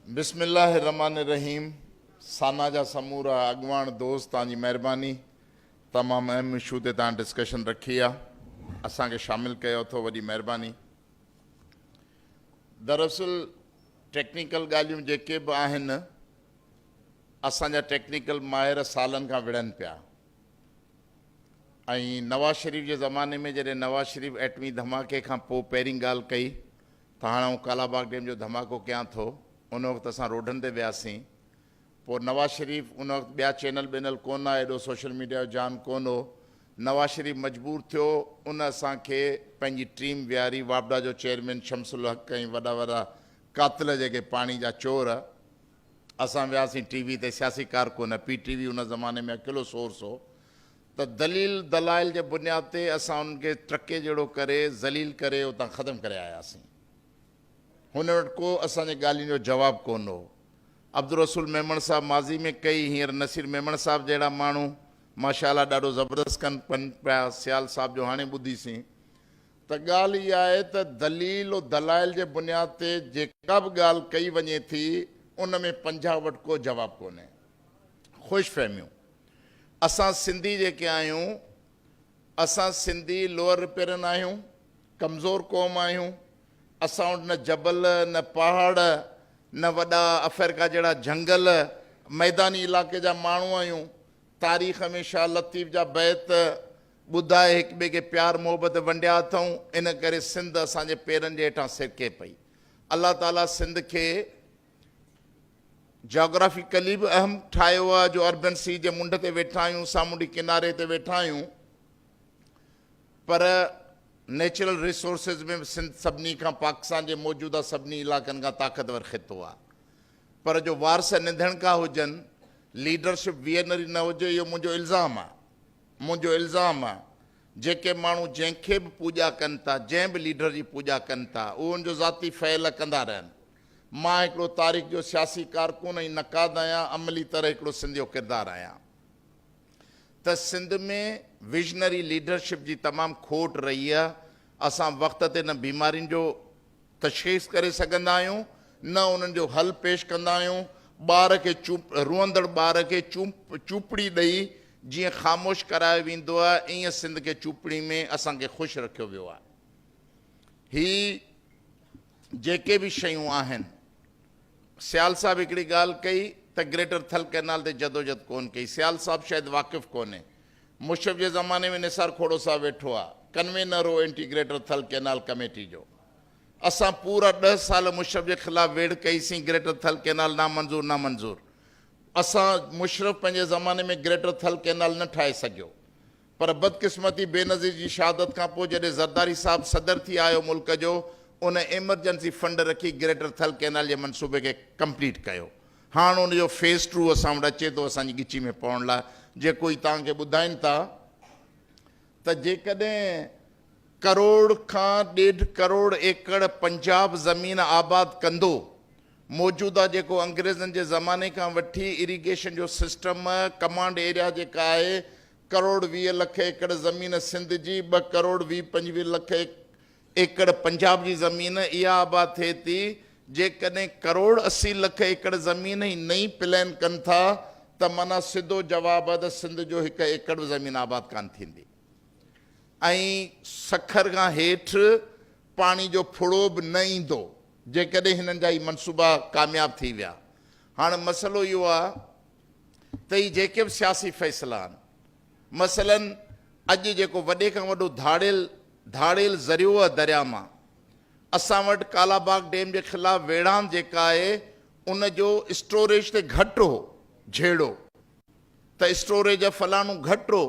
بسم الله الرحمٰن الرحيم سانا جا سمورا اڳواڻ دوست توهان جي مهرباني تمام اهم اشو تي توهان ڊسڪشن رکي آ اسان کي شامل ڪيو اٿو وڏي مهرباني دراصل ٽيڪنيڪل ڳالهيون جيڪي به آهن اسان جا ٽيڪنيڪل ماهر سالن کان وڙهن پيا ۽ نواز شريف جي زماني ۾ جڏهن نواز شريف ايٽمي ڌماڪي کان پوء پهرين ڳالهه ڪئي ته هاڻ آئون ڪالاباغ ڊيم جو ڌماڪو ڪيان ٿو ان وقت اسان روڊن تي وياسين پوء نواز شريف ان وقت ٻيا چينل بينل ڪو نه ايڏو سوشل ميڊيا جو جان ڪو نه هو نواز شريف مجبور ٿيو ان اسان کي پنهنجي ٽيم ويهاري واپڊا جو چيئرمين شمس الحق ۽ وڏا وڏا قاتل جيڪي پاڻي جا چور اسان وياسين ٽي وي تي سياسي ڪارڪن پي ٽي وي ان زماني ۾ اڪيلو سورس هو ته دليل دلائل جي بنياد تي اسان انهن کي ٽرڪي جهڙو ڪري ذليل ڪري اتان ختم ڪري آياسين هنن وٽ ڪو اسان جي ڳالهين جو جواب ڪون هو عبدالرسول ميمڻ صاحب ماضي ۾ ڪئي هينئر نصير ميمڻ صاحب جهڙا ماڻهو ماشاءالله ڏاڍو زبردست ڪن پن پيا سيال صاحب جو هاڻي ٻڌيسين ته ڳالهه اها آهي ته دليل و دلائل جي بنياد تي جيڪا به ڳالهه ڪئي وڃي ٿي ان ۾ پنجاب وٽ ڪو جواب ڪونهي. خوش فهميون. اسان سنڌي جيڪي آهيون اسان سنڌي لوئر رپيرن آهيون، ڪمزور قوم آهيون، اسان وٽ نه جبل، نه پهاڙ، نه وڏا افريڪا جهڙا جهنگل، ميداني علاقي جا ماڻهو آهيون، تاريخ ۾ شاهه لطيف جا بيت، ٻڌاء هڪ ٻئي کي پيار محبت ونڊيا اٿئون ان ڪري سنڌ اسان جي پيرن جي هيٺان سرڪي پئي الله تعالي سنڌ کي جاگرافيڪلي به اهم ٺاهيو آهي جو اربين سي جي منڍ تي ويٺا آهيون سامونڊي ڪناري تي ويٺا آهيون پر نيچرل ريسورسز ۾ به سنڌ سڀني کان پاڪستان جي موجوده سڀني علائقن کان طاقتور خطو آهي پر جو وارث ننڌڻڪا هجن ليڊرشپ ويئرنري نه هجي اهو منهنجو الزام آهي منهنجو الزام آ جيڪي ماڻهو جنهن کي به پوڄا ڪن ٿا جنهن به ليڊر جي پوڄا ڪن ٿا اهو ان جو ذاتي فعل ڪندا رهن مان هڪڙو تاريخ جو سياسي ڪارڪن ۽ نقاد آهيان عملي طرح هڪڙو سنڌيو ڪردار آهيان ته سنڌ ۾ ويزنري ليڊرشپ جي تمام کوٽ رهي آ اسان وقت تي نه بيمارين جو تشخيص ڪري سگهندا آهيون نه انهن جو حل پيش ڪندا آهيون ٻار کي چوپ روئندڙ ٻار کي چوپ چوپڙي ڏئي جيئن خاموش ڪرايو ويندو آهي ائين سنڌ کي چوپڙي ۾ اسان کي خوش رکيو ويو آهي هي جيڪي به شيون آهن سيال صاحب هڪڙي ڳالهه ڪئي ته گريٽر ٿل ڪئنال تي جدوجد ڪون ڪئي سيال صاحب شايد واقف ڪونهي مشرف جي زماني ۾ نثار کوڙو صاحب ويٺو آهي ڪنوينر هو انٽيگريٽر ٿل ڪئنال ڪميٽي جو اسان پورا ڏهه سال مشرف جي خلاف ويڙهه ڪئي سين گريٽر ٿل ڪينال نامنظور نامنظور اسان مشرف پنهنجي زماني ۾ گريٽر ٿل ڪينال نه ٺاهي سگهيو پر بدقسمتي بينظير جي شهادت کان پوء جڏهن زرداري صاحب صدر ٿي آيو ملڪ جو ان ايمرجنسي فنڊ رکي گريٽر ٿل ڪينال جي منصوبي کي ڪمپليٽ ڪيو هاڻ ان جو فيز ٽو اسان وٽ اچي ٿو اسان جي ڳچي ۾ پوڻ لاء جيڪو ئي توهان کي ٻڌائين ٿا ته جيڪڏهن ڪروڙ کان ڏيڍ ڪروڙ ايڪڙ پنجاب زمين آباد ڪندو، موجوده جيڪو انگريزن جي زماني کان وٺي اريگيشن جو سسٽم ڪمانڊ ايريا جيڪا آهي ڪروڙ ويهه لک ايڪڙ زمين سنڌ جي ٻه ڪروڙ ويهه پنجويهه لک ايڪڙ پنجاب جي زمين اها آباد ٿئي ٿي جيڪڏهن ڪروڙ اسي لک ايڪڙ زمين هي نئين پلين ڪن ٿا ته معنيٰ سڌو جواب آهي ته سنڌ جو هڪ ايڪڙ به زمين آباد ڪانه ٿيندي ۽ سکر کان هيٺ پاڻي جو ڦڙو به نه ايندو جيڪڏهن هنن جا هي منصوبا ڪامياب ٿي ويا هاڻ مسئلو اهو آهي ته هي جيڪي به سياسي فيصلا آهن مثلاً اڄ جيڪو وڏي کان وڏو ڌاڙيل ڌاڙيل ذريعوه درياء مان اسان وٽ ڪالاباغ ڊيم جي خلاف ويڙهاند جيڪا آهي ان جو اسٽوريج تي گهٽ هو جهيڙو ته اسٽوريج آف فلانو گهٽ هو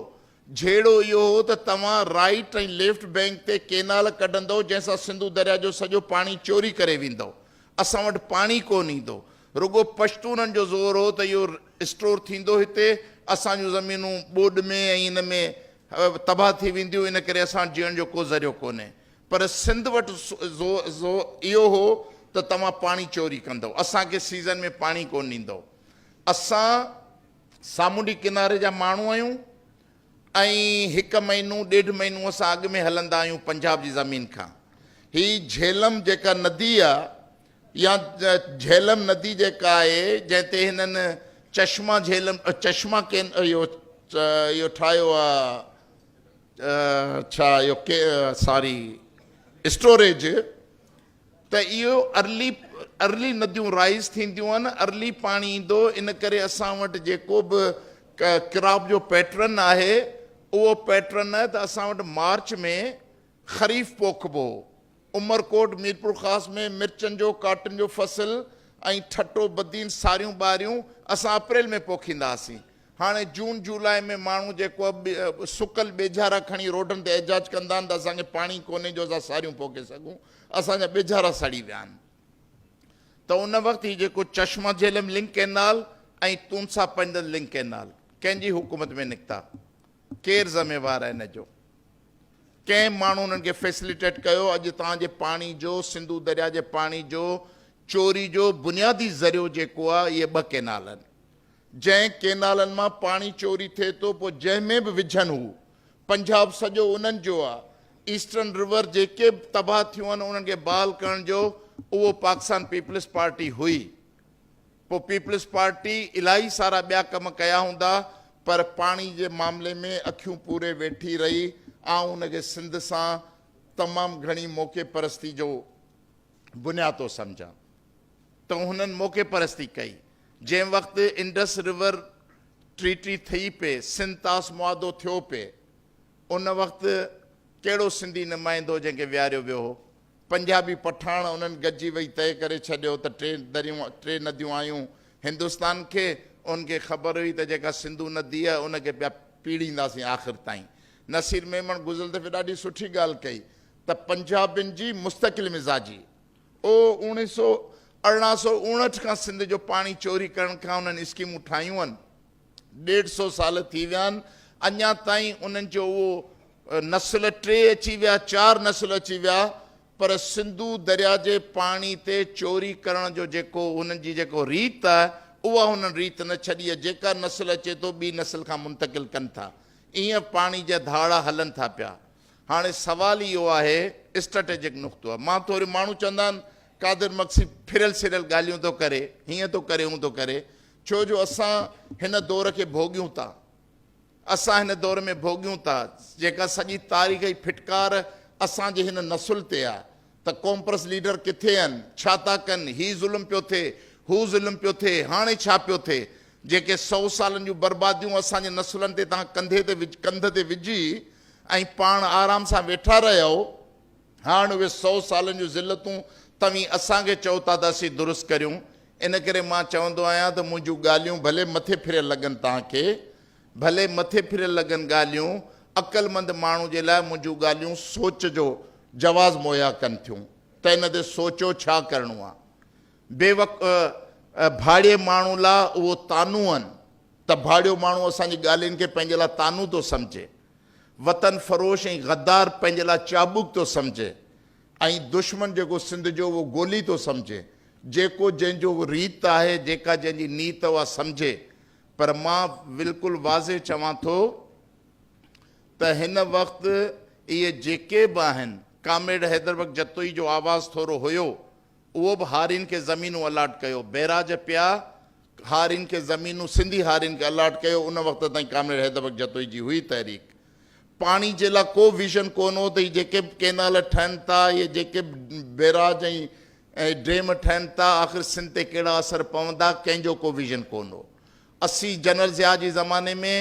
جهيڙو اهو هو ته توهان رائيٽ ۽ ليفٽ بينڪ تي ڪينال ڪڍندؤ جنهن سان سنڌو درياء جو سڄو پاڻي چوري ڪري ويندؤ اسان وٽ پاڻي ڪون ايندو رڳو پشتونن جو زور هو ته اهو اسٽور ٿيندو هتي، اسان جون زمينون ٻوڏ ۾ ۽ ان ۾ تباهه ٿي وينديون، ان ڪري اسان وٽ جيئڻ جو ڪو ذريعو ڪونهي. پر سنڌ وٽ زور اهو هو ته توهان پاڻي چوري ڪندؤ، اسان کي سيزن ۾ پاڻي ڪونه ڏيندؤ، اسان سامونڊي ڪناري جا ماڻهو آهيون ۽ هڪ مهينو ڏيڍ مهينو اسان اڳ ۾ هلندا آهيون پنجاب جي زمين کان. هي جهيلم جيڪا ندي آهي، يا جهلم ندي جيڪا آهي جنهن تي هنن چشما جهلم چشما ڪين اهو اهو ٺاهيو آهي ڇا اهو ساري اسٽوريج ته اهو ارلي ارلي نديون رائز ٿينديون آهن ارلي پاڻي ايندو ان ڪري اسان وٽ جيڪو به ڪراپ جو پيٽرن آهي اهو پيٽرن آهي ته اسان وٽ مارچ ۾ خريف پوکبو. عمرڪوٽ، ميرپورخاص ۾ مرچن جو ڪاٽن جو فصل ۽ ٺٽو، بدين، ساريون ٻاريون اسان اپريل ۾ پوکيندا هئاسين. هاڻي جون جولاء ۾ ماڻهو جيڪو سڪل ٻيجهارا کڻي روڊن تي احجاج ڪندا آهن ته اسان کي پاڻي ڪونهي جو اسان ساريون پوکي سگهون، اسان جا ٻيجهارا سڙي ويا آهن. ته ان وقت هي جيڪو چشما جهلم لنڪ ڪئنال ۽ تونسا پنڊت لنڪ ڪئنال ڪنهن جي حڪومت ۾ نڪتا؟ ڪير ذميوار آهي ان جو؟ ڪئين ماڻهو انهن کي فيسليٽيٽ ڪيو، اڄ تان جي پاڻي جو سنڌو دريا جي پاڻي جو چوري جو بنيادي ذريعو جيڪو آ اهي ٻه ڪينال آهن جنهن ڪينالن مان پاڻي چوري ٿئي ٿو پو جنهن ۾ به وجهن هو پنجاب سڄو انهن جو آ ايسٽرن رور جيڪي به تباهه ٿيون آهن انهن کي بحال ڪرڻ جو اهو پاڪستان پيپلز پارٽي هئي پوء پيپلز پارٽي الاهي سارا ٻيا ڪم ڪيا هوندا پر پاڻي جي معاملي ۾ اکيون پوري ويٺي رهي آئون ان کي سنڌ سان تمام گهڻي موقعي پرستي جو بنياد ٿو سمجهان ته هنن موقعي پرستي ڪئي جنهن وقت انڊس رور ٽريٽي ٿئي پئي سنڌ طاس معاهدو ٿيو پئي ان وقت ڪهڙو سنڌي نمائندو جنهن کي ويهاريو ويو هو پنجابي پٺاڻ انهن گڏجي ويهي طئي ڪري ڇڏيو ته ٽي دريون، ٽي نديون آيون هندستان کي، انهن کي خبر هئي ته جيڪا سنڌو ندي آهي ان کي پيا پيڙهينداسين آخر تائين. نصير ميمڻ گذريل دفعي ڏاڍي سٺي ڳالهه ڪئي ته پنجابين جي مستقل مزاجي او اوڻي سو ارڙهن سو اوڻهٺ کان سنڌ جو پاڻي چوري ڪرڻ کان انهن اسڪيمون ٺاهيون هن، ڏيڍ سو سال ٿي ويا آهن، اڃا تائين انهن جو اهو نسل ٽي اچي ويا، چار نسل اچي ويا، پر سنڌو درياء جي پاڻي تي چوري ڪرڻ جو جيڪو انهن جي جيڪو ريت آهي، اها انهن ريت نه ڇڏي آهي، جيڪا نسل اچي ٿو ٻي نسل کان منتقل ڪن ٿا، ايئن پاڻي جا ڌاڙا هلن ٿا پيا. هاڻي سوال اهو آهي، اسٽريٽجڪ نقطو آهي، مان ٿوري ماڻهو چوندا آهن قادر مگسي ڦريل سريل ڳالهيون ٿو ڪري، هيئن ٿو ڪري هون ٿو ڪري، ڇو جو اسان هن دور کي ڀوڳيون ٿا. اسان هن دور ۾ ڀوڳيون ٿا، جيڪا سڄي تاريخ جي ڦٽڪار اسان جي هن نسل تي آ ته قومپرست ليڊر ڪٿي آهن، ڇا ٿا ڪن، هي ظلم پيو ٿئي، هو ظلم پيو ٿئي، هاڻي ڇا پيو ٿئي. جيڪي سؤ سالن جون برباديون اسان جي نسلن تي توهان ڪنڌي تي ڪنڌ تي وجهي ۽ پاڻ آرام سان ويٺا رهيائو، هاڻ اهي سؤ سالن جون ذلتون توهين اسان کي چئو ٿا ته اسين درست ڪريون. ان ڪري مان چوندو آهيان ته منهنجون ڳالهيون ڀلي مٿي ڦريل لڳن توهان کي، ڀلي مٿي ڦريل لڳن ڳالهيون، عقلمند ماڻهو جي لاء منهنجون ڳالهيون سوچ جو جواز مهيا ڪن ٿيون ته ان تي سوچو ڇا ڪرڻو آهي. بيوق ڀاڙيي ماڻهو لاء اهو طعنو آهن ته ڀاڙيو ماڻهو اسان جي ڳالهين کي پنهنجي لاء طعنو ٿو سمجهي. وطن فروش ۽ غدار پنهنجي لاء چاٻوڪ ٿو سمجهي. ۽ دشمن جيڪو سنڌ جو اهو گولي ٿو سمجهي، جيڪو جنهن جو اهو ريت آهي، جيڪا جنهن جي نيت اها سمجهي، پر مان بلڪل واضح چوان ٿو ته هن وقت اهي جيڪي به آهن، ڪامريڊ حيدر بخش جتوئي جو آواز ٿورو هيو، اهو به هارين کي زمينون الاٽ ڪيو، بئراج پيا هارين کي زمينون سنڌي هارين کي الاٽ ڪيو، ان وقت تائين ڪامريڊ حيدر بخش جتوئي جي هئي تحريڪ. پاڻي جي لاء ڪو ويزن ڪو نه هو ته هي جيڪي به ڪينال ٺهن ٿا يا جيڪي به بيراج ۽ ڊيم ٺهن ٿا آخر سنڌ تي ڪهڙا اثر پوندا ڪنهن جو ڪو ويزن ڪو نه هو. اسي جنرل ضياء جي زماني ۾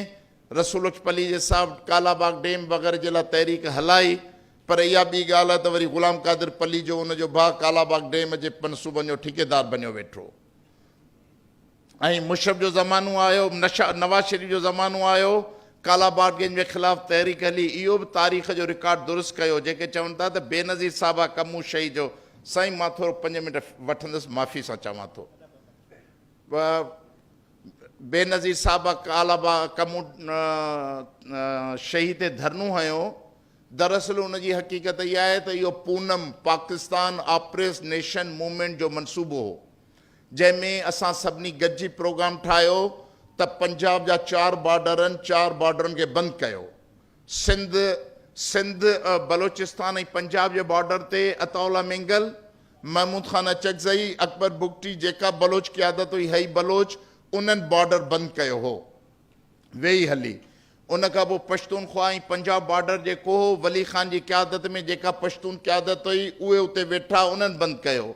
رسول اچ پليجي صاحب ڪالا باغ ڊيم وغيره جي لاء تحريڪ هلائي پر اها ٻي ڳالهه آهي ته وري غلام قادر پليجو ان جو ڀاء ڪالا باغ ڊيم جي منصوبن جو ٺيڪيدار بنيو ويٺو. ۽ مشرف جو زمانو آيو، نواز شريف جو زمانو آيو، ڪالا باغ گينگ جي خلاف تحريڪ هلي، اهو به تاريخ جو رڪارڊ درست ڪيو، جيڪي چون ٿا ته بينظير صاحبه ڪمون شهيد جو سائين مان ٿورو پنج منٽ وٺندس معافي سان چوان ٿو بينظير صاحبه ڪالا باغ ڪمون شهيد تي ڌرنو هنيو دراصل ان جي حقيقت اها آهي ته اهو PONM Pakistan oppress nation movement جو منصوبو هو جنهن ۾ اسان سڀني گڏجي پروگرام ٺاهيو ته پنجاب جا چار بارڊرن چار بارڊرن کي بند ڪيو سنڌ سنڌ بلوچستان ۽ پنجاب جي بارڊر تي عطاء الله مينگل محمود خان اچڪزئي اڪبر بگٽي جيڪب بلوچ قيادت هئي هئي بلوچ انهن بارڊر بند ڪيو هو ويئي هلي. ان کان پوء پشتونخوا ۽ پنجاب بارڊر جي ڪوهه ولي خان جي قيادت ۾ جيڪا پشتون قيادت هئي، اهي اتي ويٺا، انهن بند ڪيو.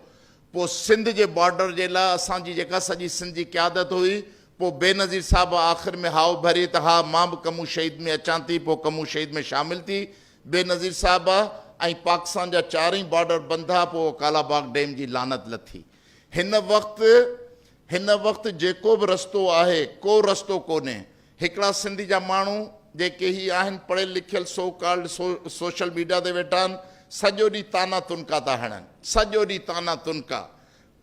پوء سنڌ جي بارڊر جي لاء اسان جي جيڪا سڄي سنڌ جي قيادت هئي، پوء بينظير صاحب آخر ۾ هائو ڀري ته ها مان به ڪمون شهيد ۾ اچان ٿي، پوء ڪمون شهيد ۾ شامل ٿي بينظير صاحب ۽ پاڪستان جا چارئي بارڊر بند ٿا، پوء ڪالا باغ ڊيم جي لعنت لٿي. هن وقت. هن وقت جيڪو به رستو آهي، ڪو رستو ڪونهي. هڪڙا سنڌ جا ماڻهو جيڪي هي آهن پڙهيل لکيل سو ڪالڊ سو سوشل ميڊيا تي ويٺا آهن سڄو ڏينهن طعنا تنڪا ٿا هڻن. سڄو ڏينهن طعنا تنڪا.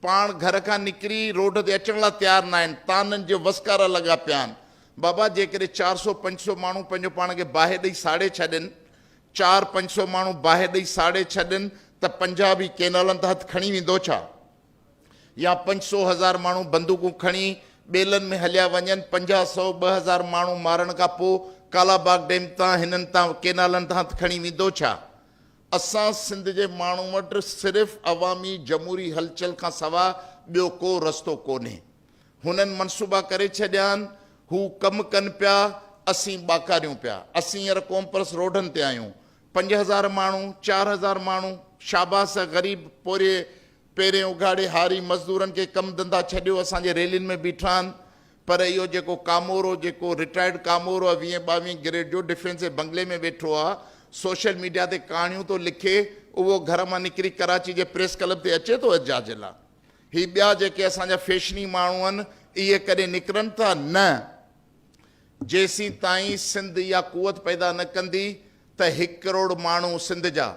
پاڻ گهر کان نڪري روڊ تي اچڻ لاء تيار ناهن. طعنن جي وسڪارا لڳا پيا آهن. بابا جيڪڏهن چار سو پنج سو ماڻهو پنهنجو پاڻ کي باهه ڏئي ساڙي ڇڏين، چار پنج سو ماڻهو باهه ڏئي ساڙي ڇڏين ته پنجاب هي ڪينالن تان هٿ کڻي ويندو ڇا؟ يا پنج سو هزار ماڻهو بندوقون کڻي ٻيلن ۾ هليا وڃن، پنجاهه سؤ ٻه هزار ماڻهو مارڻ کان پوء ڪالا باغ ڊيم تان هنن تان ڪينالن تان هٿ کڻي ويندو ڇا؟ اسان سنڌ جي ماڻهن وٽ صرف عوامي جمهوري هلچل کان سوا ٻيو ڪو رستو ڪونهي. هنن منصوبا ڪري ڇڏيا آهن، هو ڪم ڪن پيا، اسين ٻاڪاريون پيا. اسين هينئر قومپرست روڊن تي آهيون. پنج هزار ماڻهو، چار هزار ماڻهو، شاباس غريب پورهيي پهرين اگهاڙي هاري مزدورن کي ڪم ڌنڌا ڇڏيو اسان جي ريلين ۾ بيٺا آهن پر اهو جيڪو ڪامورو جيڪو رٽائرڊ ڪامورو آهي ويهين ٻاويهين گريڊ جو ڊفينسي بنگلي ۾ ويٺو آهي سوشل ميڊيا تي ڪهاڻيون ٿو لکي اهو گهر مان نڪري ڪراچي جي پريس ڪلب تي اچي ٿو احجاج لا هي ٻيا جيڪي اسان جا فيشني ماڻهو آهن اهي ڪڏهن نڪرن ٿا نه جيسين تائين سنڌ اها قوت پيدا نه ڪندي ته هڪ ڪروڙ ماڻهو سنڌ جا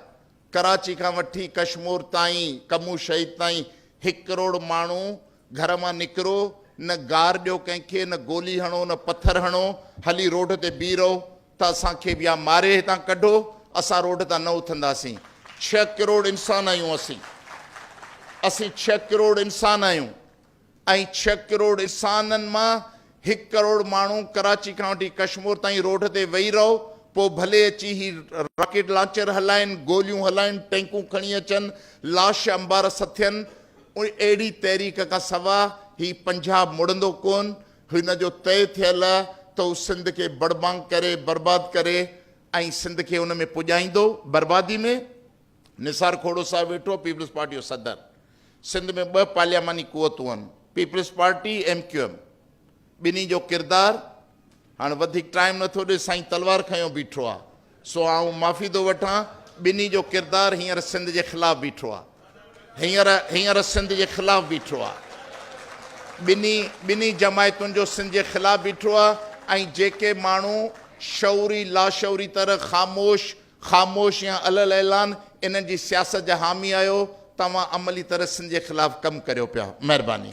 ڪراچي کان وٺي ڪشمور تائين ڪمون شهيد تائين هڪ ڪروڙ ماڻهو گهر مان نڪرو نه گار ڏيو ڪنهن کي نه گولي هڻو نه پٿر هڻو هلي روڊ تي بيهي رهو ته اسان کي به يا ماري هتان ڪڍو اسان روڊ تان نه اٿنداسين ڇهه ڪروڙ انسان آهيون اسين اسين ڇهه ڪروڙ انسان آهيون ۽ ڇهه ڪروڙ اسانن مان هڪ ڪروڙ ماڻهو ڪراچي کان وٺي ڪشمور تائين روڊ تي ويهي رهو پوء ڀلي اچي هي راڪيٽ لانچر هلائين گوليون هلائين ٽينڪون کڻي اچن لاش انبار سٿين اهڙي تحريڪ کان سوا هي پنجاب مڙندو ڪون هن جو طئي ٿيل ته هو سنڌ کي بڙبانگ ڪري برباد ڪري ۽ سنڌ کي ان ۾ پڄائيندو بربادي ۾. نثار کوڙو صاحب ويٺو، پيپلز پارٽي جو صدر. سنڌ ۾ ٻه پارلياماني قوتون آهن، peoples party, M Q M. ٻنهي جو ڪردار هاڻ وڌيڪ ٽائيم نه ٿو ڏئي، سائين تلوار کنيو بيٺو آهي، سو آئون معافي ٿو وٺان، ٻنهي جو ڪردار هينئر سنڌ جي خلاف بيٺو آهي. هينئر هينئر سنڌ جي خلاف بيٺو آهي. ٻنهي ٻنهي جماعتن جو سنڌ جي خلاف بيٺو آهي ۽ جيڪي ماڻهو شعوري لاشعوري طرح خاموش خاموش يا علي الاعلان انهن جي سياست جا حامي آهيو توهان عملي طرح سنڌ جي خلاف ڪم ڪريو پيا مهرباني.